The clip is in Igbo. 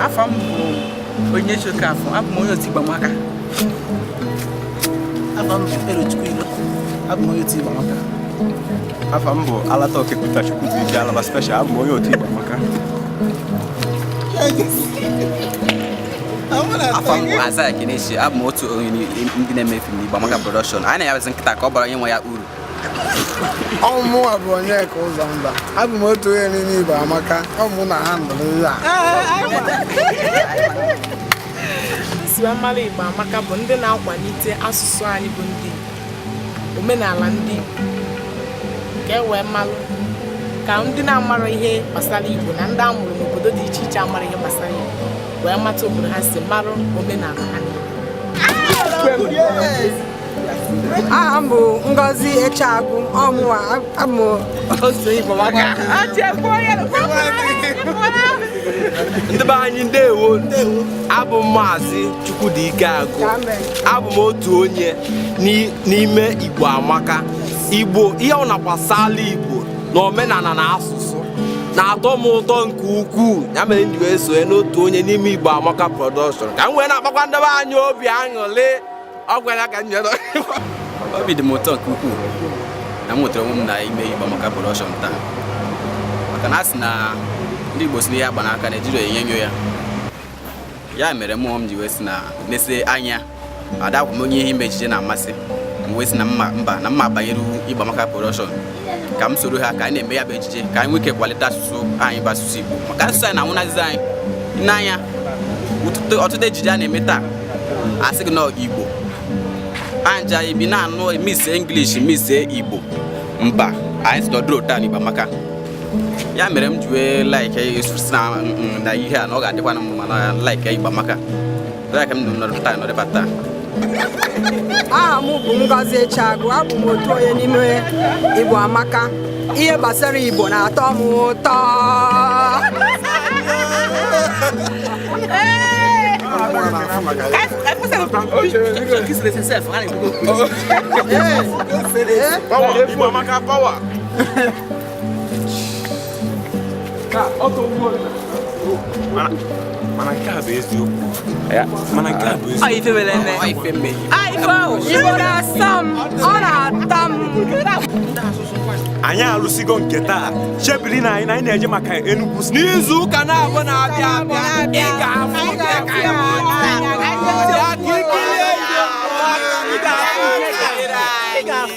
afa m bụ Onyechi Okafọ abụ m onye otu Igbo Amaka afa m bụ Elochukwu Ilo abụ m onye otu Igbo Amaka afa m bụ Alata Okepụta Chukwubuike Alaba special abụ m onye otu Igbo Amaka afa m bụ Isaiah Kenechi abụ m otu onye ndị na-eme fim n'Igbo Amaka Production anyị na-ayabazi nkịta ka ọ bara onye nwe ya uru ọ mụnwa bụ Onyeka Ụzọmba abụ m otu onye n'ime Igbo Amaka ọ mụ na-handle ihe a nsi wee malụ Igbo Amaka bụ ndị na-akwalite asụsụ anyị bụ ndị omenala ndị Igbo ka e wee malụ ka ndị na-amarọ ihe gbasara Igbo na ndị a mụrụ n'obodo dị iche iche amarọ ihe gbasara Igbo wee mata obodo ha si marụ omenala ha aha m bụ Ngozi Echeagụ ọ mụwa abụ otu Igbo ndị be anyị ndewo abụ m maazị Chukwudike Agụ abụ m otu onye n'ime Igbo Amaka Igbo ihe ọbụna gbasala Igbo na omenala na asụsụ na-atọ m ụtọ nke ukwuu ya mere m ji wee sonye n'otu onye n'ime Igbo Amaka Production ka m wee na-akpakwa ndị be anyị obi aṅụrị ọ gwara ka m nyere obi dị m ụtọ nke ukwuu na m nwetara onwe m na ime Igbo Amaka Production taa maka na a sị na ndị Igbo sị na ihe agba n'aka na ejirọ enyo enyo ya ya mere mụwa m ji wee sị na nese anya adịkwa m onye ihe ime ejije na-amasị m wee sị na mba na m ma-abanyeri Igbo Amaka Production ka m soro ha ka anyị na-eme ya bụ ejije ka anyị nwee ike kwalite asụsụ anyị bụ asụsụ Igbo maka asụsụ anyị na-anwụnazi anyị n'anya ọtụtụ ejije a na-eme taa a sị gị na Igbo anja ibi na-anụ mix English mix Igbo mba anyị sị na ọ dịrọ otu a n'Igbo Amaka ya mere m ji wee like na ihe a na ọ ga-adịkwa na mma na like Igbo Amaka Aha m bụ Ngozi Echeagụ abụ m otu onye n'ime Igbo Amaka ihe gbasara Igbo na-atọ m ụtọ mana nke a bụ eziokwu mana nke a bụ eziokwu anyị alụsigo nke taa chebiri anyị na anyị na-eje maka Enugu n'izu ụka na-abụ na-abịa abịa ị ga-afụ